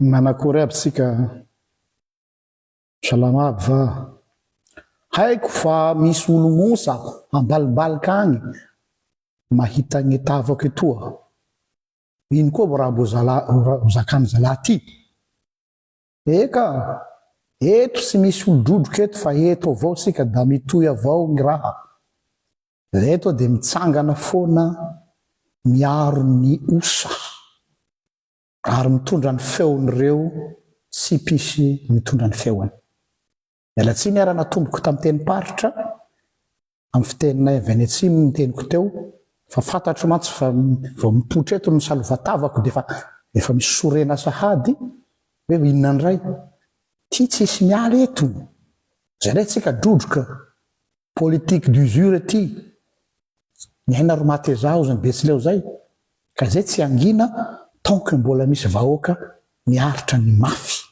Manakory aby tsika a! Salama aby va? Haiko fa misy olo mosa ambalimbalika agny mahita gny tavako etoa. Ino koa vao raha mbo ho zakan'ny zalahy aty? Eka! Eto tsy misy olo drodroka eto fa eto avao tsika da mitohy avao gny raha. Eto de mitsangana foana miaro ny osa. Ary mitondra ny feon'ireo tsy mpisy mitondra ny feony. Miala tsiny ary anatomboko tamin'ny tenim-paritra amin'ny fiteninay avy any atsimo ny teniko teo fa fantatro mantsy fa vao mipoitra eto ny salova-tavako dia efa efa misy sorena sahady hoe inona indray? Ity tsisy miala eto! Jeretsika drodroka Politique d'usure ity, ny aina ry Matezah ozy ny Betsileo zay, ka zay tsy hangina tant que mbola misy vahoaka miaritra ny mafy.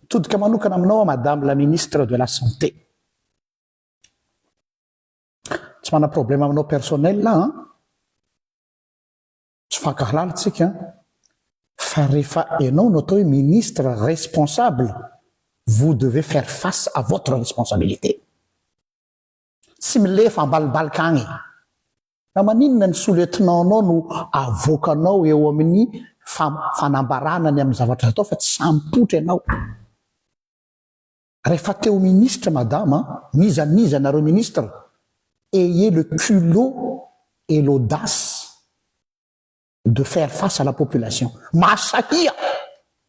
Mitodika manokana aminao aho Madame la Ministre de la Santé. Tsy manana problème aminao personnel aho an! Tsy fankahalala tsika fa rehefa enao no atao hoe ministre responsable vous devez faire face à votre responsabilité. Tsy milefa ambalimbalika agny fa maninona ny sous lieutenant nao no avoakanao eo amin'ny fanambarana ny amin'ny zavatra atao fa tsy samy poitra enao. Refa te ho ministre madame a, n'iza n'iza nareo ministre, ayez le culot et l'audace de faire face à la population. Mahasahia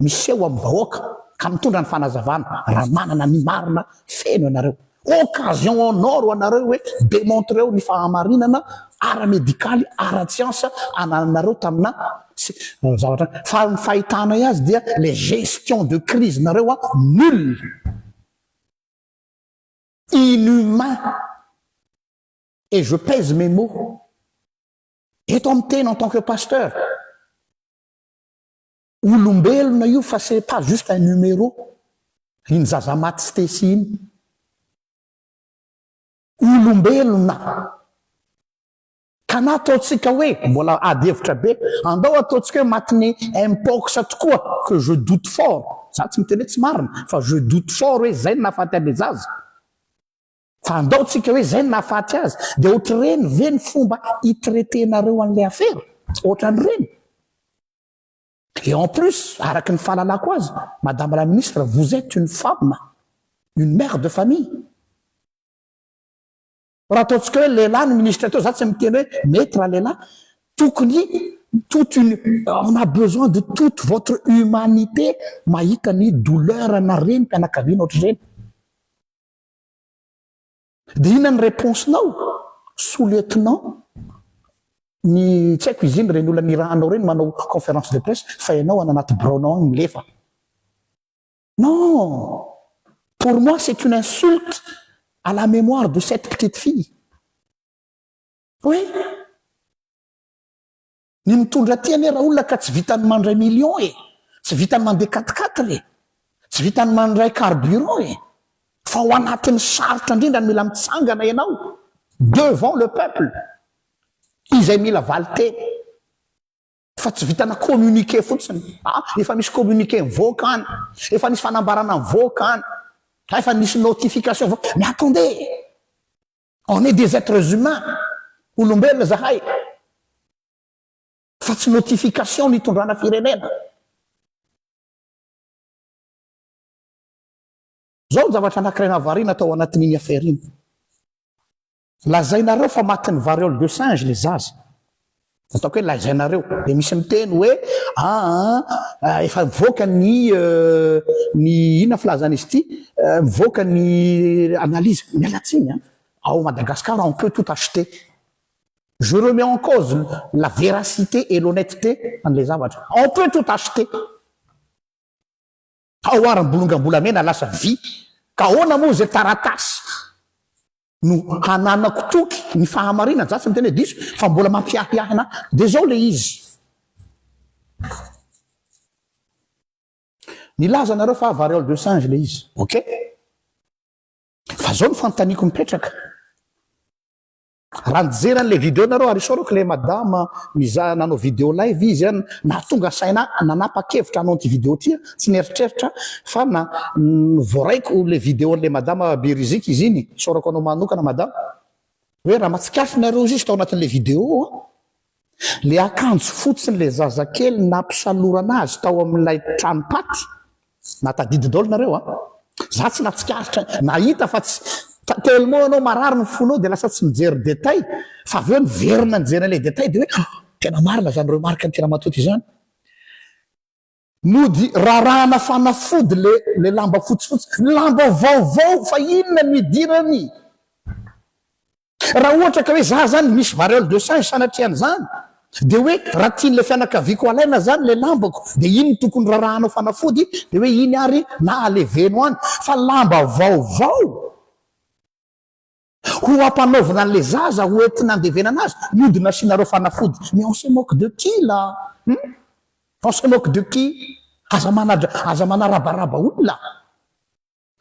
miseho amin'ny vahoaka ka mitondra ny fanazavana raha manana ny marina feno ianareo. Occasion en or ho anareo hoe demontreo ny fahamarinana ara-medikaly, ara-tsiansa anananareo tamina Tsy ny zavatra fa ny fahitanay azy dia le gestion de crise nareo a nul, inhumain et je pèse mes mots eto amin'ny tena en tant que pasteur olombelona io fa c'est pas juste un numero iny zaza maty stecy iny olombelona. Ka na ataontsika hoe mbola ady hevitra be, andao ataontsika hoe matinée mpox tokoa, que je doute fort, za tsy miteny hoe tsy marina, fa je doute fort hoe zay no nahafaty an'le zaza, fa andao tsika hoe zay no nahafaty azy, dia ohatr'ireny ve ny fomba hi-traiter-nareo an'le afera? Ohatran'ireny? Et en plus, araka ny fahalalako azy, madame la ministre, vous etes une femme, une mère de famille, Raha ataontsika hoe lehilahy ny ministre teo, za tsy miteny hoe mety raha lehilahy, tokony toute une on a besoin de toute votre humanité mahita ny douleur ana renim-pianakaviana ohatr'ireny. Dia inona ny reponse-nao sous lieutenant ny tsy haiko izy iny ireny olona nirahanao ireny manao conférence de presse fa ianao any anaty biraonao any milefa. Non! Pour moi c'est une insulte à la mémoire de cette petite fille. Oui! Ny mitondra aty anie raolona ka tsy vitan'ny mandray millions e! Tsy vitan'ny mandeha quatre quatre e! Tsy vitan'ny mandray carburant e! Fa ao anatin'ny sarotra indrindra no mila mitsangana ianao devant le peuple izay mila valin-teny. Fa tsy vitana communiqué fotsiny. Ah, efa misy communiqué mivoaka any. Efa nisy fanambarana mivoaka any. Ah, efa nisy notification mivoaka. Mais attendez! On est des êtres humains. Olombelona zahay. Fa tsy notification no itondrana firenena. Zao ny zavatra anankiray nahavariana tao anatin'iny affaire iny. Lazainareo fa matin'ny variole de singe ilay zaza. Ataoko hoe lazainareo. Dia misy miteny hoe aa efa mivoaka ny ny inona filazana izy ity? mivoaka ny analyse. Miala tsiny an! Ao Madagascar on peut tout acheter. Je remets en cause la véracité et l'honnêteté an'ilay zavatra. On peut tout acheter. Tao ary ny bolongam-bolamena lasa vy ka ahoana moa izay taratasy no hananako toky ny fahamarinana za tsy miteny hoe diso fa mbola mampiahiahy ana de zao le izy nilaza anareo fa variole de singe le izy ok fa zao ny fanontaniako mipetraka Raha nijery an'ilay video nareo ary isaorako ilay madama mizaha nanao video live izy an, nahatonga saina ahy nanapa-kevitra hanao an'ity video ity aho, tsy nieritreritra fa na voaraiko ilay video an'ilay madama be rizika izy iny, isaorako anao manokana madama, hoe raha mahatsikaritra nareo izy tao anatin'ilay video an, Ilay akanjo fotsin'ilay zazakely nampisalorana azy tao amin'ilay tranom-paty, na tadidy daholo nareo a! Za tsy natsikaritra, nahita fa tsy, tellement anao marary ny fonao dia lasa tsy mijery détail, fa avy eo niverina nijery an'ilay détail dia hoe, ah! tena marina izany remarque-n'i Tiramatoto izany. Mody rarahana fanafody le le lamba fotsifotsy. Lamba vaovao fa inona no idirany? Raha ohatra ka hoe za zany misy variole de singe sanatria an'izany de hoe raha tian'ilay fianakaviako alaina zany le lambako de iny no tokony rarahanao fanafody de hoe iny ary na aleveno any fa lamba vaovao Ho ampanaovina an'ilay zaza ho entina andevenana azy mody nasianareo fanafody mais on se moque de qui là hum? On se moque de qui? Aza manadra aza manarabaraba olona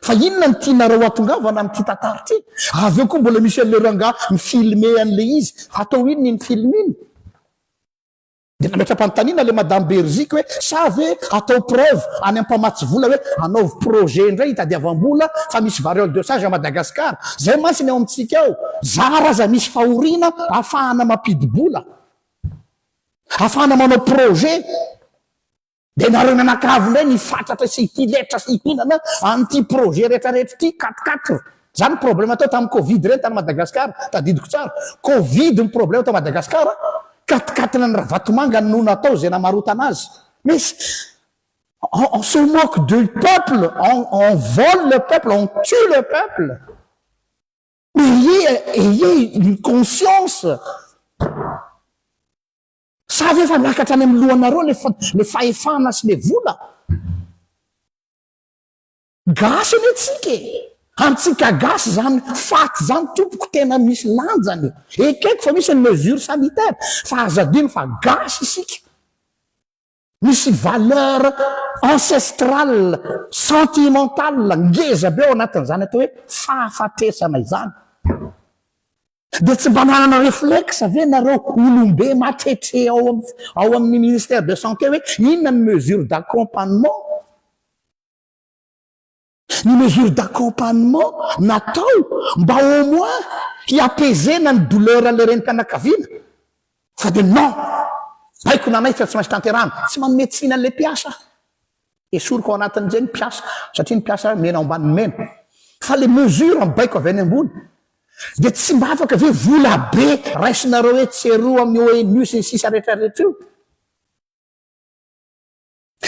fa inona no tianareo hatongavana amin'ity tantara ity? Avy eo koa mbola misy an'ilay rangahy mi-filmer an'ilay izy, hatao inona iny film iny? Dia nametra-panontaniana ilay Madame Beriziky hoe sa ve atao preuve any ampamatsy vola hoe hanaovy projet indray hitadiavam-bola fa misy variole de singe à Madagascar. Izay mantsy ny ao amintsika ao. Zara aza misy fahoriana ahafahana mampidi-bola, ahafahana manao projet. Dia nareo mianakavy indray nifatratra sy ity letra sy ihinana an'ity projet rehetra rehetra ity quatre quatre zany problème teo tamin'ny covid ireny tany Madagascar tadidiko tsara covid ny problème tao Madagascar quatre quatre ny Ravatomanga no natao izay namarotana azy mais on se moque de peuple on on vole le peuple on tue le peuple mais ayez ayez une conscience Sa ve efa miakatra any amin'ny lohanareo le le fahefana sy le vola? Gasy anie tsika e! Antsika gasy zany fat zany tompoko tena misy lanjany e! Ekeko fa misy ny mesure sanitaire fa aza adino fa gasy isika. Misy valeur ancestrale, sentimentale ngeza be ao anatin'izany atao hoe fahafatesana izany. Dia tsy mba nanana réflexe ve nareo olom-be matretre ao ao amin'ny ministère de santé hoe inona ny mesure d'accompagnement? Ny mesure d'accompagnement natao mba au moins hi-apaiser-na ny douleur an'ilay renim-pianakaviana fa dia non! Baiko na anaiky fa tsy maintsy tanterahina. Tsy manome tsiny an'ilay mpiasa aho. Esoriko ao anatin'izay ny mpiasa satria ny mpiasa mena ao ambanin'ny mena. Fa ilay mesure mibaiko avy any ambony dia tsy mba afaka ve vola be raisinareo etsy sy eroa amin'ny ONU sy ny sisa rehetra rehetra io?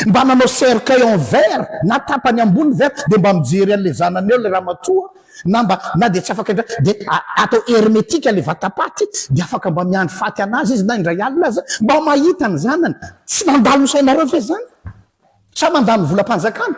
Mba nanao cercueil en verre na tapany ambony verre dia mba mijery an'ilay zanany eo ilay ramatoa na mba na dia tsy afaka indray dia atao hermétique ilay vatapaty dia afaka mba miandry faty an'azy izy na indray alina aza mba mahita ny zanany. Tsy nandalo ny sainareo ve izany? Sa mandany volam-panjakana?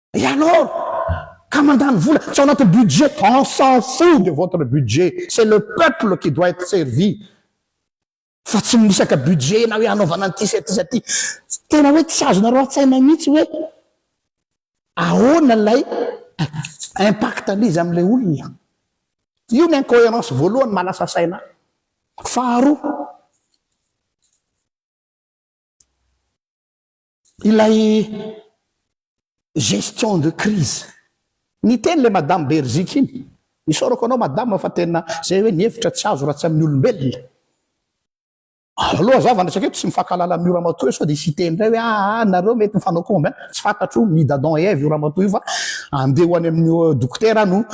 Et alors? Ka mandany vola tsy ao anatin'ny budget, on s'en fout de votre budget, c'est le peuple qui doit être servi fa tsy mirisaka budget na hoe hanaovana an'ity sy aty sy aty. Tena hoe tsy azonareo an-tsaina mihitsy hoe ahoana ilay impact-n'izy amin'ilay olona. Io ny incohérence voalohany mahalasa saina ahy. Faharoa, Ilay gestion de crise. Niteny le madame Beriziky iny. Isaorako anao madame fa tena zay hoe ny hevitra tsy azo raha tsy amin'ny olombelona. Aleo za vao niresaka eto tsy mifankahalala amin'io ramatoa io sao dia hisy hiteny indray hoe aa nareo mety mifanao combien. Tsy fantatro ny d'Adam et Ève io ramatoa io fa andeha ho any amin'ny dokotera no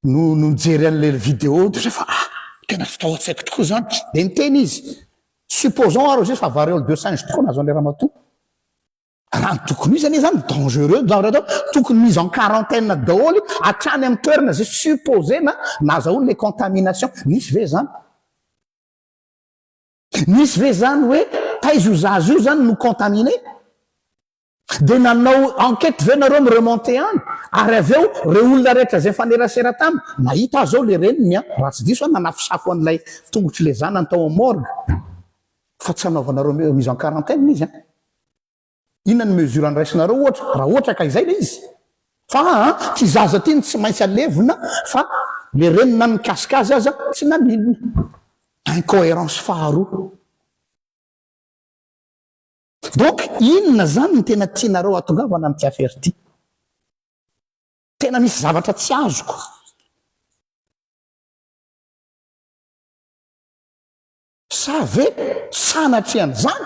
no no nijery an'ilay vidéo dia zay fa ah! tena tsy tao an-tsaiko tokoa izany, dia niteny izy, supposons ary hozy fa variole de singe tokoa nazon'ilay ramatoa, raha ny tokony ho izy anie izany dangereux zany raha atao, tokony mise en quarantaine daholo hatrany amin'ny toerana izay supposena nahazahoany ilay contamination, nisy ve izany? Nisy ve izany hoe taiza io zaza io izany no contaminer? Dia nanao enquête ve nareo mi remonter any? Ary avy eo reo olona rehetra zay nifanerasera taminy, nahita azy ao le reniny an, raha tsy diso aho nanafosafo an'ilay tongotry le zanany tao am morgue fa tsy hanaovanareo mise en quarantaine izy an! Inona ny mesure andraisinareo ohatra raha ohatra ka izay le izy? Fa an ty zaza ty no tsy maintsy alevina fa le reniny na nikasika azy aza tsy naninona! Incoherence faharoa. Donc inona zany no tena tianareo hatongavana amty affaire ty? Tena misy zavatra tsy azoko. Sa ve sanatrean'izany?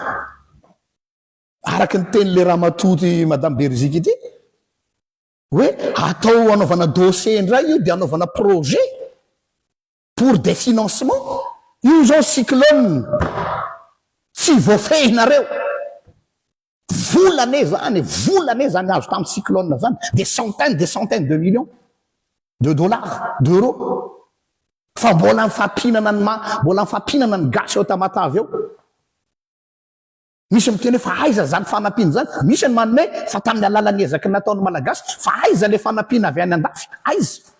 Araky ny tenin'le ramatoa ty madame Beriziky ity hoe atao anaovana dossier indray io de anaovana projet. Pour des financements? Io zao cyclone tsy voafehinareo. Vola anie zany e, vola anie zany azo tamin'ny cyclone zany, des centaines, des centaines de millions de dollars, d'euros. Fa mbola mifampinana ny maha, mbola mifampinana ny gasy ao Tamatave ao. Misy miteny hoe fa aiza zany fanampiana zany? Misy ny manome fa tamin'ny alalan'ny ezaky ny nataon'ny Malagasy, fa aiza le fanampiana avy any andafy? Aiza?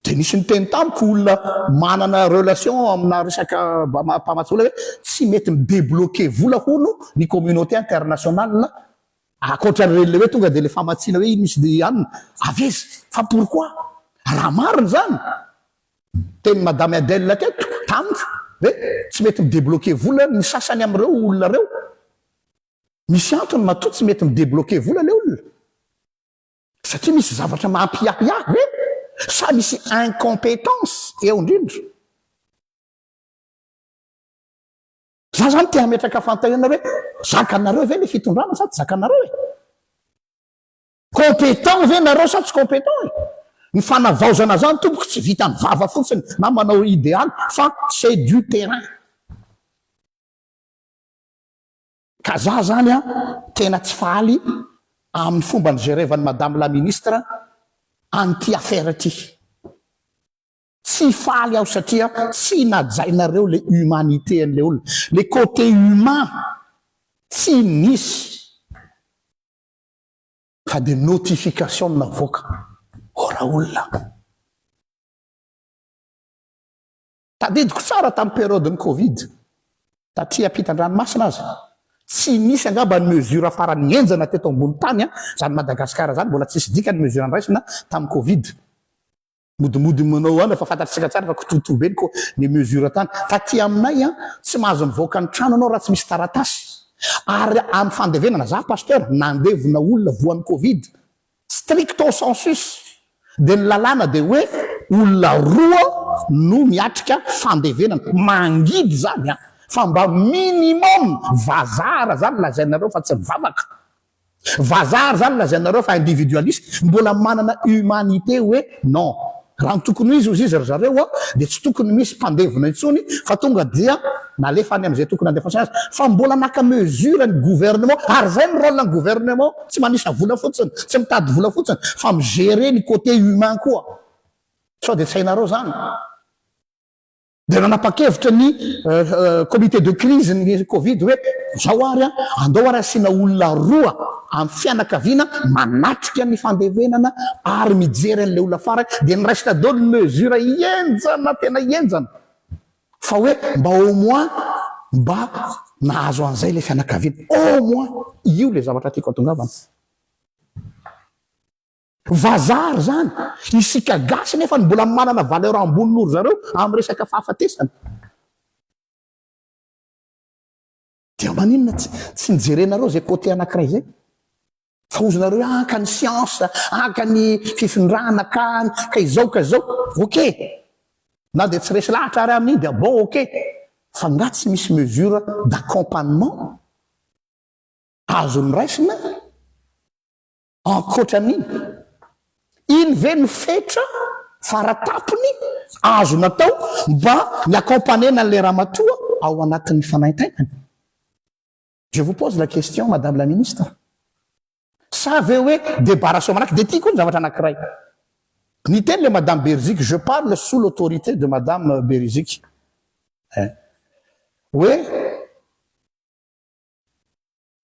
Dia nisy niteny tamiko olona manana relation amina resaka mpamatsy vola hoe tsy mety mi-debloquer vola hono ny communauté internationale ankoatra an'ireny ilay hoe tonga dia ilay famatsiana hoe ino sy anona. Avy aiza? Fa pourquoi? Raha marina izany, niteny Madame Adèle teto tamiko hoe tsy mety mi-debloquer vola ny sasany amin'ireo olona ireo. Misy antony matoa tsy mety mi-debloquer vola ilay olona. Satria misy zavatra mampiahy ahy ve sa misy incompetence eo indrindra? Za zany te hametraka fantahiana hoe zakanareo ve le fitondrana sa tsy zakanareo e? Competent ve nareo sa tsy competent e? Ny fanavaozana zany tompoko tsy vitan'ny vava fotsiny na manao idealy fa c'est du terrain. Ka za zany an tena tsy faly aminy fomba nigerevan'i madame la ministre an'ity affaire ity. Tsy faly aho satria tsy najainareo le humanité an'le olona. Le côté humain tsy nisy fa de notification no navoaka. Ô raolona. Tadidiko tsara tamin'ny période-n'ny covid, tatry ampitan-dranomasina aza, tsy nisy angamba ny mesure farany henjana teto ambony tany an, izany Madagascar izany, mbola tsisy dika ny mesure nraisina tamin'ny covid. Modimody manao an, efa fantatsika tsara fa kitoatoa be ny ko, ny mesure tany. Taty aminay an, tsy mahazo mivoaka ny trano ianao raha tsy misy taratasy. Ary amin'ny fandevenana, za pasteur, nandevina olona voan'ny covid, Stricto sensus dia ny lalàna dia hoe olona roa no miatrika fandevenana, mangidy izany an! fa mba minimum vazaha ary izany lazainareo fa tsy mivavaka, vazaha ary izany lazainareo fa individualiste, mbola manana humanité hoe non, Raha ny tokony ho izy hozizy ry zareo dia tsy tokony misy mpandevona intsony fa tonga dia nalefa any amin'izay tokony handefasana azy fa mbola naka mesure ny gouvernement ary izay ny rôle ny gouvernement tsy manisa vola fotsiny tsy mitady vola fotsiny fa mi-gerer ny côté humain koa sao dia tsy hainareo izany Dia nanapa-kevitra ny comité de crise ny covid hoe izao ary an, andao ary asiana olona roa amin'ny fianakaviana manatrika ny fandevenana ary mijery an'ilay olona farany, dia niraisina daholo ny mesure henjana tena henjana fa hoe mba au moins mba nahazo an'izay ilay fianakaviana, au moins io ilay zavatra tiako hatongavana. Vazaha ry zany, isika gasy nefa ny mbola manana valeur ambony noho ry zareo amin'ny resaka fahafatesana. Dia maninona tsy tsy nijerenareo zay côté anakiray zay? Fa hozonareo hoe an ka ny science, an ka ny fifindrana, ka ny, ka izao ka izao. Ok, na dia tsy resy lahatra ary amin'iny dia bon ok. Fa nga tsy misy mesure d'accompagnement azony raisina? Ankoatra an'iny, iny ve no fetra fara tampony azo natao mba hi accompagner-na an'ilay ramatoa ao anatin'ny fanaintainany? Je vous pose la question madame la ministre. Sa ve hoe débarrassons malaky? Dia ity koa ny zavatra anankiray. Niteny ilay madame Beriziky, je parle sous l'autorité de madame Beriziky, eh, hoe,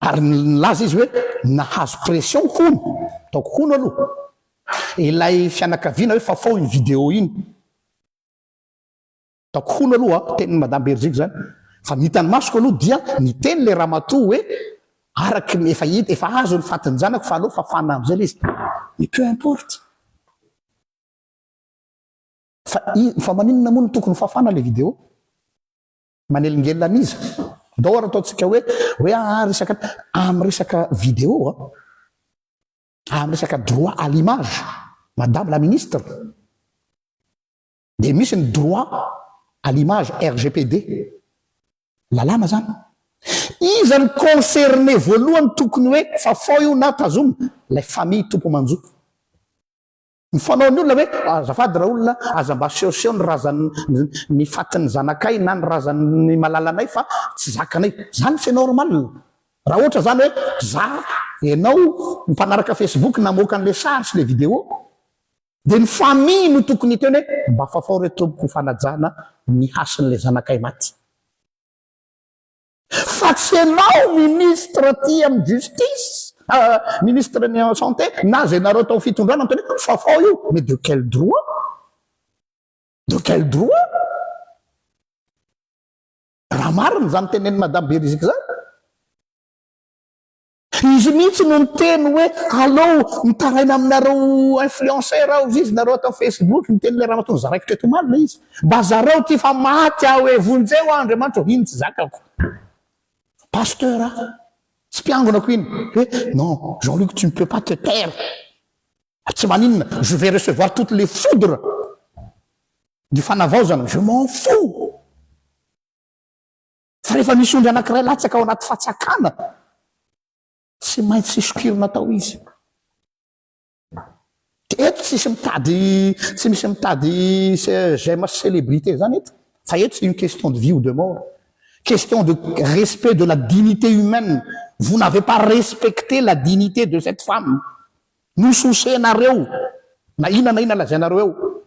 Ary nilaza izy hoe, Nahazo pression hono, ataoko hono aloha ilay fianakaviana hoe fafao iny vidéo iny. Ataoko hono aloha, tenin'i Madame Berziko izany. Fa ny hitan'ny masoko aloha dia niteny ilay ramatoa hoe, araka ny efa hita, efa azo ny fatin'ny zanako fa aleo fafana amin'izay ilay izy. Mais peu importe. Fa i, fa maninona moa no tokony ho fafana ilay vidéo? Manelingelina an'iza? Ndao ary ataontsika hoe, hoe aah resaka, amin'ny resaka vidéo an, amin'ny resaka droit à l'image, madame la ministre, dia misy ny droit à l'image RGPD, lalàna izany. Iza no concerné voalohany tokony hoe fafao io na tazomina? Ilay famille tompo aman-jo. Ny fanaon'ny olona hoe azafady raolona aza mba asehoseho ny razan'ny fatin'ny zanakay na ny razan'ny malalanay fa tsy zakanay. Zany c'est normal. Raha ohatra zany hoe za enao mpanaraka facebook namoaka an'le sary sy le video de ny famille no tokony hiteny hoe mba fafao re tompoko fanajana ny hasin'le zanakay maty. Fa tsy enao ministre ty am justice ah ministre ny am santé na zay nareo tao fitondrana miteny hoe fafao io mais de quel droit? De quel droit? Raha marina zany tenen'i madame Beriziky zany. Izy mihitsy no niteny hoe alou mitaraina aminareo influenceurs ao viz nareo ato am facebook niteny ilay ramatoa nizaraiko teto omaly ilay izy mba zarao ity fa maty aho e vonjeo aho andriamanitra o iny tsy zakako pasteur a tsy mpiangonako iny hoe non jean luc tu ne peux pas te taire tsy maninona je vais recevoir toutes les foudres du fanavaozana je m'en fous Fa rehefa misy ondry anankiray latsaka ao anaty fatsakana, tsy maintsy sokirina tao izy. Eto tsisy mitady, tsy misy mitady j'aime célébrité zany eto. Fa eto c'est une question de vie ou de mort. Question de respect de la dignité humaine. Vous n'avez pas respecté la dignité de cette femme. Nososenareo na inona na inona lazainareo eo.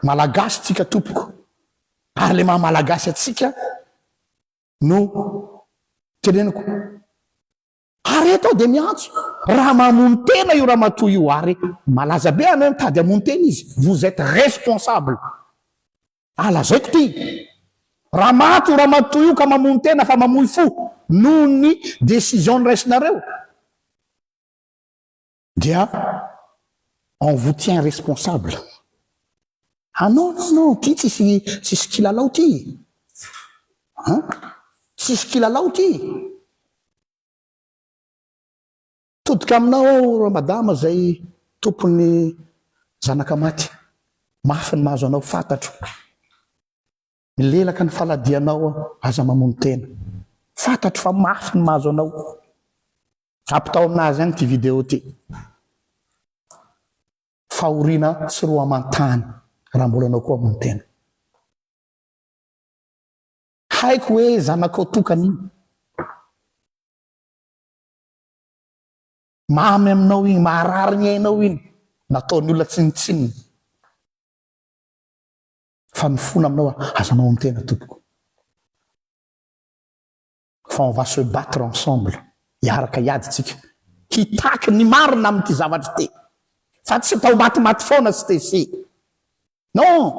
Malagasy tsika tompoko ary le maha malagasy atsika no teneniko ary eto aho dia miantso raha mamono tena io ramatoa io ary malaza be anao mitady hamono tena izy vous êtes responsable ah lazaiko ty raha maty io ramatoa io ka mamono tena fa mamoy fo noho ny décision niraisinareo dia on vous tient responsable ah non non non ty tsisy tsisy kilalao ty an tsisy kilalao ty todika aminao aho ramadama zay tompon'ny zanaka maty mafy ny mahazo anao fatatro Milelaka ny faladianao aho, aza mamono tena. Fantatro fa mafy ny mahazo anao. Ampitao aminazy any ity video ty. Fahoriana sy roa aman-tany raha mbola anao koa hamono tena. Haiko hoe zanakao tokana iny. Mamy aminao iny, maharary ny ainao iny. Nataon'ny olona tsinontsinona. Fa mifona aminao aho, azonao ny tena tompoko. Fa on va se battre ensemble, hiaraka hiady tsika, hitaky ny marina amin'ity zavatra ity. Fa tsy atao matimaty foana Stecy. Non!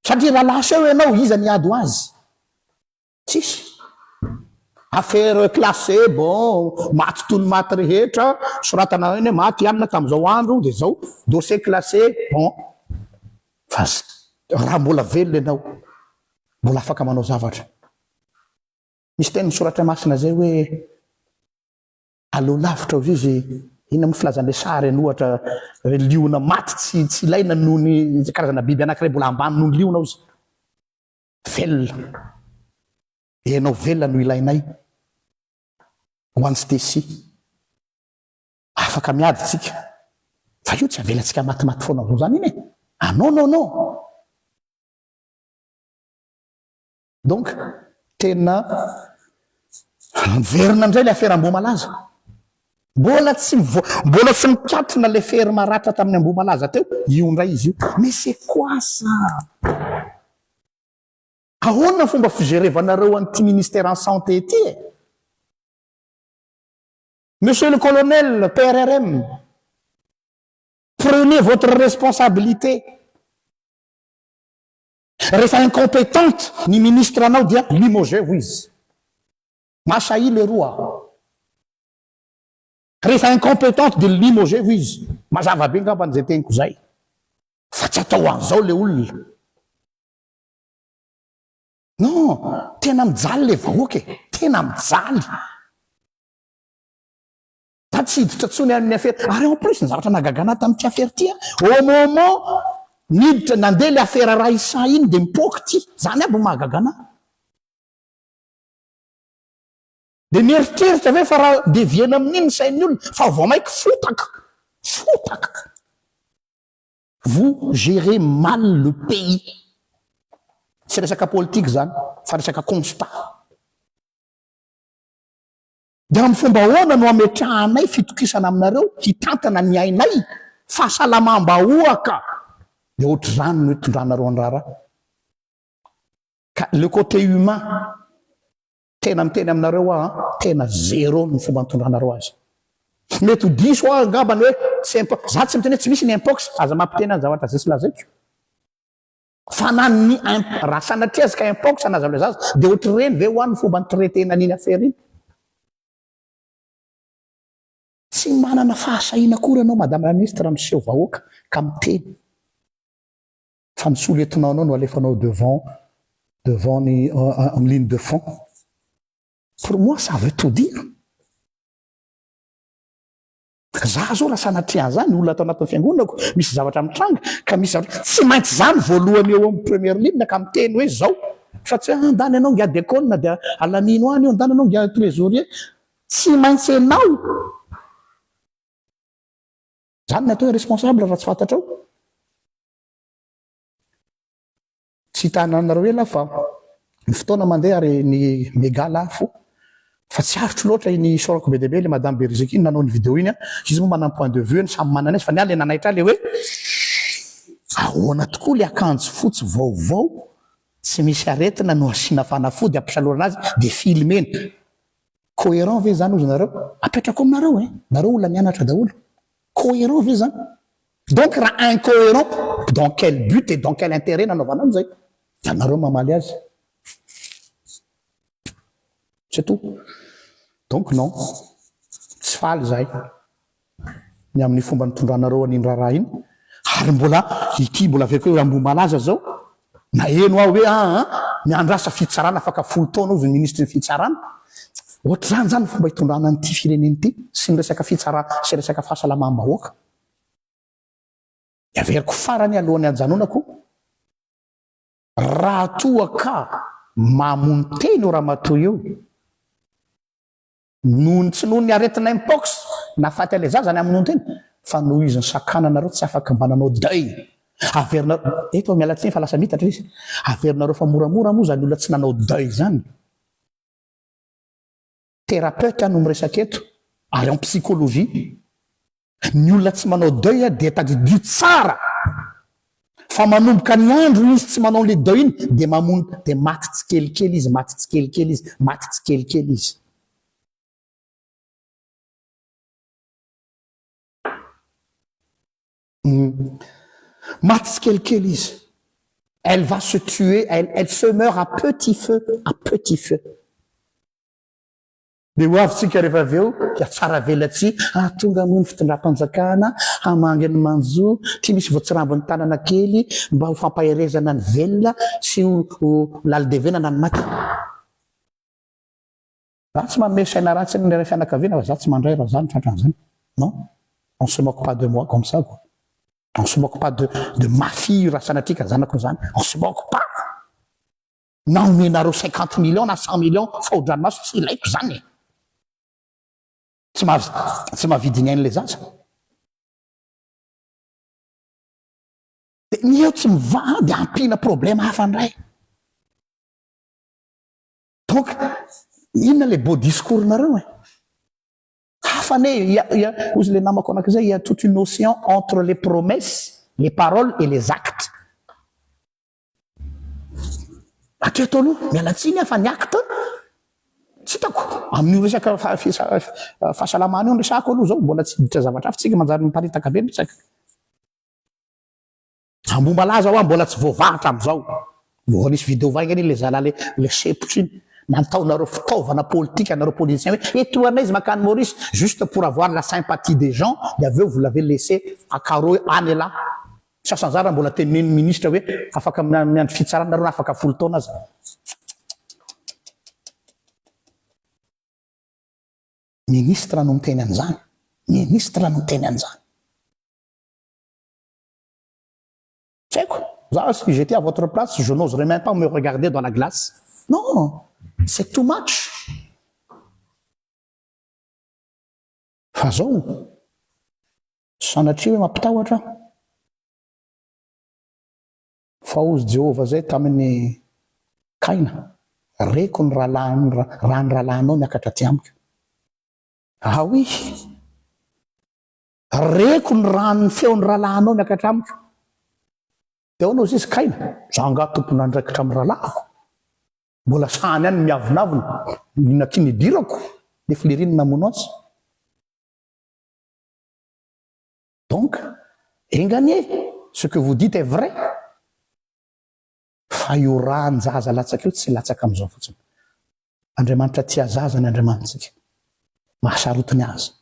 Satria raha lasa eo ianao, iza ny hiady ho azy? Tsisy. Affaire classée bon maty toy ny maty rehetra, soratana ao eny hoe maty i anona tamin'izao andro dia izao, dossier classé bon. Fa raha mbola velona ianao, mbola afaka manao zavatra. Misy tenin'ny soratra masina izay hoe aleo lavitra hozy izy, inona moa filazan'ilay sary iny ohatra, hoe liona maty tsy tsy ilaina noho ny karazana biby anankiray mbola ambany noho ny liona hozy. Velona. Ianao velona no ilainay ho an'i Stecy. Afaka miady tsika fa io tsy avelantsika matimaty foana avao zany iny e! Ah non non non! Donc tena miverina indray le afera Ambohimalaza. Mbola tsy mivoa, mbola tsy mikatona ilay fery maratra tamin'ny Ambohimalaza teo, io indray izy io. Mais c'est quoi ça? Ahoana ny fomba fijerevanareo an'ity ministère en santé ity e? Monsieur le colonel PRRM, prenez votre responsabilité. Rehefa incompetente ny ministre-nao dia limogez-ho izy. Masahia leroa a! Rehefa incompetente dia limoger hoy izy. Mazava be ngambany izay teniko izay. Fa tsy atao an'izao le olona. Non, tena mijaly le vahoaka e! Tena mijaly. Za tsy hiditra intsony amin'ny afera. Ary en plus ny zavatra nahagaga anah tamin'ity afera ity a! Au moment niditra, nandeha le afera Raissa iny dia mipoaka ity. Izany aby no mahagaga anah. Dia mieritreritra ve fa raha deviena amin'iny ny sain'ny olona fa vao mainka fotaka, fotaka. Vous gerez mal le pays. Tsy resaka politika izany fa resaka constat. Dia amin'ny fomba ahoana no ametrahanay fitokisana aminareo hitantana ny ainay, fahasalamam-bahoaka. Dia ohatr'izany no hitondranareo ny raharaha. Ka le côté humain tena miteny aminareo aho a, tena zéro ny fomba nitondranareo azy. Mety ho diso aho angamba ny hoe tsy impo, za tsy miteny hoe tsy misy ny impox, aza mampiteny any zavatra ze tsy lazaiko. Fa na ny imp, raha sanatria aza ka impox na aza leza aza de otr'ireny ve ho any ny fomba ni-traiter-na an'iny affaire iny? Tsy manana fahasahiana akory ianao Madame la Ministre miseho vahoaka ka miteny. fa ny sous lieutenant nao no alefanao devant devant ny amin'ny ligne de fond pour moi ça veut tout dire za zao raha sanatria an'izany olona ato anatin'ny fiangonako misy zavatra mitranga ka misy zavatra tsy maintsy izany voalohany eo amin'ny première ligne ka miteny hoe zao fa tsy hoe andany ianao ngia dekona dia alamino any io andany ianao ngia trésorier tsy maintsy ianao Zany ny atao hoe responsable raha tsy fantatrao. Tsy hitananareo ela fa ny fotoana mandeha ary ny mega lafo fa tsy aritro loatra iny isaorako be dia be le madame Beriziky iny nanao iny vidéo iny a, izy moa manana ny point de vue ny samy manana izy fa ny ahy le nanaitra ahy le hoe ahoana tokoa le akanjo fotsy vaovao tsy misy aretina no asiana fanafody ampisalorana azy de filmer-na. Coherent ve zany ozy nareo? Apetrako aminareo e! Nareo olona nianatra daholo. Coherent ve zany? Donc raha incoherent, dans quel but et dans quel intérêt nanaovanao an'izay? Fa nareo mamaly azy. C'est tout. Donc non. Tsy faly zahay. ny amin'ny fomba nitondranareo an'iny raharaha iny, ary mbola ity mbola avy akeo hoe Ambohimalaza zao, naheno aho hoe aa miandrasa fitsarana afaka folo taona hozy ny minisitry ny fitsarana, ohatr'izany zany ny fomba hitondrana an'ity firenena ity sy ny resaka fitsarana sy resaka fahasalamam-bahoaka. Ny averiko farany alohan'ny hajanonako, raha toa ka mamono tena io ramatoa io, Noho ny tsy noho ny aretina mpox na faty ilay zaza any amin'ny nono teny fa noho izy nisakananareo tsy afaka mba nanao deuil. Averinareo, eto aho miala tsiny fa lasa mitatra izy, averinareo fa moramora moa izany olona tsy nanao deuil izany. Thérapeute aho no miresaka eto ary en psychologie. Ny olona tsy manao deuil dia tadidio tsara fa manomboka ny andro izy tsy manao an'le deuil iny dia mamono dia maty tsikelikely izy, maty tsikelikely izy, maty tsikelikely izy. Maty tsikelikely izy. Elle va se tuer, elle, elle se meurt à petit feu, à petit feu. Dia ho avy tsika rehefa avy eo dia tsara velatsihy hahatonga moa ny fitondram-panjakana hamangy ny manjo tsy misy voatsirambin'ny tanana kely mba ho fampaherezana ny velona sy ho lalidevenana ny maty. Za tsy manome saina ratsy ny ilay fianakaviana fa za tsy mandray raha za no tratra an'izany. Non, on se moque pas de moi comme ça quoi. On se moque pas de de ma fille raha sanatria ka zanako no zany, on se moque pas. Na omenareo cinquante millions na cent millions faodranomaso tsy ilaiko izany e! Tsy maha tsy mahavidy ny ain'ilay zaza. Dia ny eo tsy mivaha dia ampiana problème hafa indray. Donc inona ilay beau discours nareo e? Hafa anie e! Hoy ilay namako anankiray, il y a toute une ocean entre les promesses, les paroles et les actes. Hatreto aloha, miala tsiny aho fa ny acte tsy hitako. Amin'io resaka fahasalamana io no resahako aloha izao, mbola tsy hiditra zavatra hafa, isika manjary miparitaka be ny resaka. Ambohimalaza ho'aho mbola tsy voavaha hatramin'izao. Vao nisy vidéo vaingany iny ilay zala ilay ilay sepotra iny, nataonareo fitaovana politika anareo politiciens hoe etoanay izy mankany Maurice juste pour avoir la sympathie des gens dia avy eo vous l'avez laissé à carreaux any elah. Tsy asa anjara mbola teneniny ministra hoe afaka miandry fitsarana nareo na afaka folo taona aza. Ministra no miteny an'izany. Ministra no miteny an'izany. Tsy haiko. Za si j'etais à votre place, je n'oserais même pas me regarder dans la glace. Non! C'est too much! Fa zao o! Sanatria hoe mampitahotra aho. Fa ozy Jehovah zay tamin'i Kaina, Reko ny rahalahin'ny raha ny rahalahinao niakatra aty amiko. Awi! Reko ny raha ny feon'ny rahalahinao niakatra amiko. Dia ahoana ozy izy Kaina? Za angaha tompon'andraikitra amin'ny rahalahiko? Mbola sahan'ny any ny miavonavona, inona akia ny hidirako, le flery no namono azy. Donc, enga anie, ce que vous dites est vrai, fa io rahan-jaza latsaka io tsy latsaka amin'izao fotsiny. Andriamanitra tia zaza ny Andriamanitrtsika, mahasarotiny azy.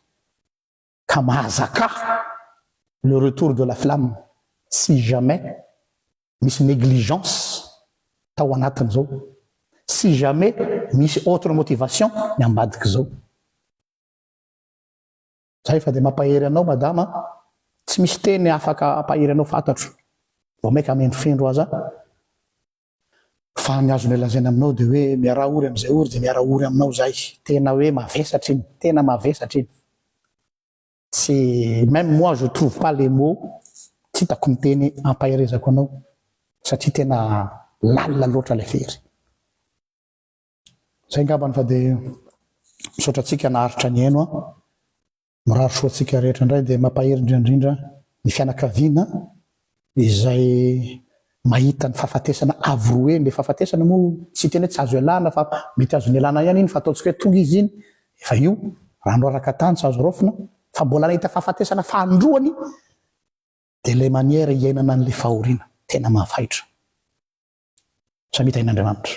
ka mahazakà le retour de la flamme si jamais misy negligence tao anatin'izao, si jamais misy autre motivation ny ambadik'izao. Zay fa dia mampahery anao madama a! Tsy misy teny afaka hampahery anao fantatro, vao mainka amendrofendro aza Fa ny azonay lazaina aminao dia hoe miaraha ory amin'izay ory dia miaraha ory aminao izahay. Tena hoe mavesatra iny, tena mavesatra iny. Tsy, même moi je trouve pas les mots, tsy hitako ny teny hampaherezako anao satria tena lalina loatra ilay fery. Izay angambany fa dia misaotra antsika naharitra nihaino an. Mirary soa antsika rehetra indray dia mampahery indrindra indrindra ny fianakaviana izay mahita ny fahafatesana avo roa eny, le fahafatesana moa tsy tena hoe tsy azo ialana fa mety azony ialana ihany iny fa ataontsika hoe tonga izy iny efa io raha noraraka tany tsy azo raofina fa mbola nahita fahafatesana fahandroany dia le maniera iainana an'le fahoriana tena mahafaitra samia tahin'Andriamanitra.